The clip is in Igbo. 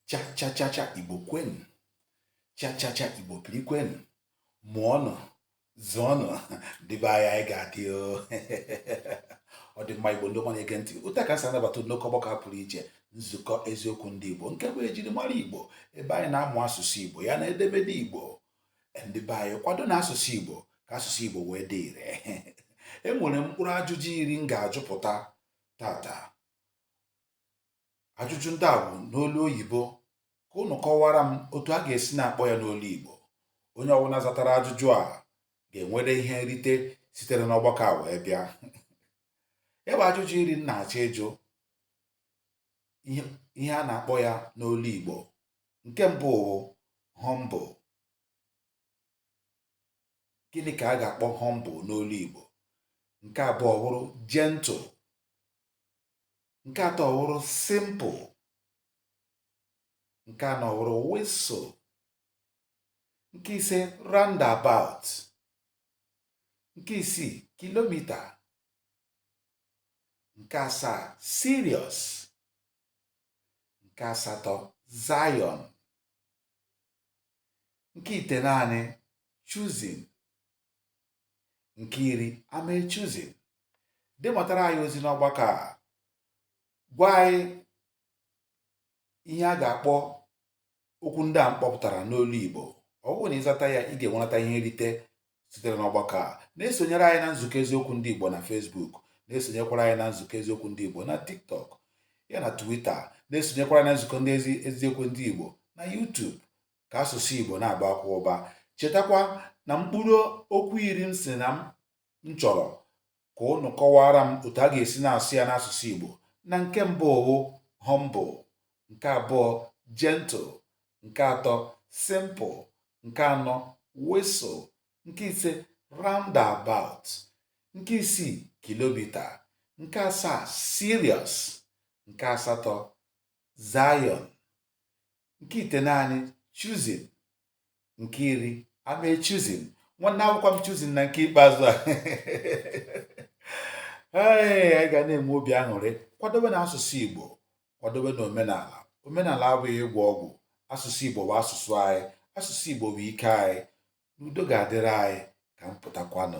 chachachacha igbo kwenu chachacha igbo kiri kwenu mụọnụ zụọnụ ndị be anyị anyị ga-adị ọ dị mma igbo ndị ọma na-ege ntị otu a ka m si anabata nnọkọ ọgbakọ pụrụ iche nzukọ eziokwu ndị igbo nke bụ ejirimara igbo ebe anyị na-amụ asụsụ igbo ya na edemede igbo ndị be anyị kwado na asụsụ igbo ka asụsụ igbo wee dị ire enwere mkpụrụ ajụjụ iri m ga-ajụpụta tata ajụjụ ndị a bụ n'olu oyibo ka ụnụ kọwara m otu a ga-esi na-akpọ ya n'olu Igbo onye ọbụla zatara ajụjụ a ga-enwere ihe nrite sitere n'ọgbakọ a wee bịa ya bụ ajụjụ iri m na-achọ ịjụ ihe a na-akpọ ya n'olu Igbo nke mbụ wụ humble gịnị ka a ga-akpọ humble n'olu Igbo nke abụọ bụrụ gentle nke atọ wụrụ simple nke anọ wụrụ whistle nke ise roundabout nke isii kilomita nke asaa serious nke asatọ Zion nke itenaanị chosen nke iri am a chosen dematara anyị ozi n'ọgbakọ a gwa anyị ihe a ga-akpọ okwu ndị a m kpọpụtara n'olu Igbo ọ bụrụ na ị zata ya ị ga-enweta ihe nrite sitere n'ọgbakọ a na-esonyere anyị na nzukọ eziokwu ndị Igbo na Facebook na-esonyekwara anyị na nzukọ eziokwu ndị Igbo na TikTok ya na Twitter na-esonyekwara na nzukọ ndị eziokwu ndị Igbo na YouTube ka asụsụ Igbo na-abakwa ụba chetakwa na mkpụrụ okwu iri m sị na m chọrọ ka ụnụ kọwara m otu a ga-esi na-asụ ya n'asụsụ Igbo na nke mbụ wụ humble nke abụọ gentle nke atọ simple nke anọ whistle nke ise roundabout nke isii kilomita nke asaa serious nke asatọ Zion nke itenaanị chosen nke iri am a chosen nwanne awụkwa m chosen na nke ikpeazụ a ee anyị ga na-enwe obi aṅụrị kwadobe na asụsụ igbo kwadobe na omenala omenala abụghị ịgwọ ọgwụ asụsụ igbo bụ asụsụ anyị asụsụ igbo bụ ike anyị n'udo ga-adịrị anyị ka m pụtakwanụ